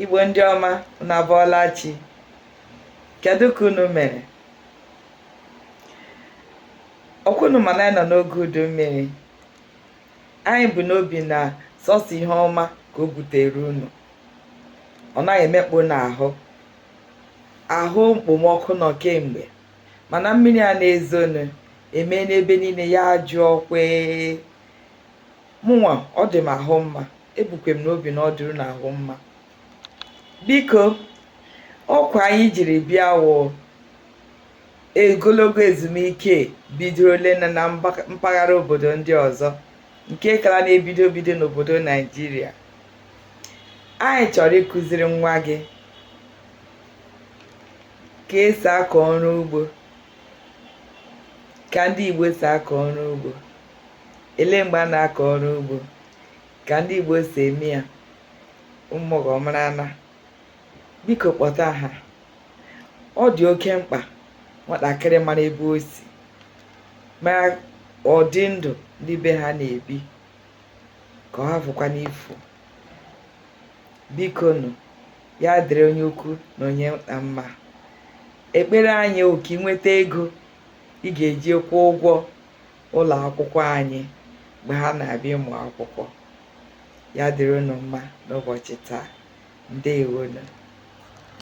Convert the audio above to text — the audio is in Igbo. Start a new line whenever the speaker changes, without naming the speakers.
igbo ndị ọma unu abọọla chi kedu ka unu mere ọkwa unu ma na anyị nọ n'oge udu mmiri anyị bu n'obi na sọsọ ihe ọma ka o butere unu ọ naghị emekpa unu ahụ ahụ mkpomọkụ nọ kemgbe mana mmiri a na-ezonu emena ebe niile ya jụọ kwee Mụnwa ọ dị m ahụ mma, ebukwe m n'obi na ọ dịrị unu ahụ mma. Biko, ọkwa anyị jiri bịa wụ ogologo ezumike bidorole na na mba- mpaghara obodo ndị ọzọ nke kara na-ebido ebido n'obodo Naijiria. Anyị chọrọ ịkụziri nwa gị ka esi akọ ọrụ ugbo, ka ndị Igbo si akọ ọrụ ugbo. ele mgbe a na-akọ ọrụ ugbo ka ndị Igbo si eme ya ụmụ gị ọ marana biko kpọta ha ọ dị oke mkpa nwatakịrị mara ebe o si mara ụdị ndụ ndị be ha na-ebi ka ọ hafụkwanụ ifu biko nụ ya dịrị onye ukwu na onye nta mma ekpere anyị wụ ka ị nweta ego ị ga-eji kwụọ ụgwọ ụlọ akwụkwọ anyị mgbe ha na-abịa ịmụ akwụkwọ ya dịrị unu mma n'ụbọchị taa ndewonu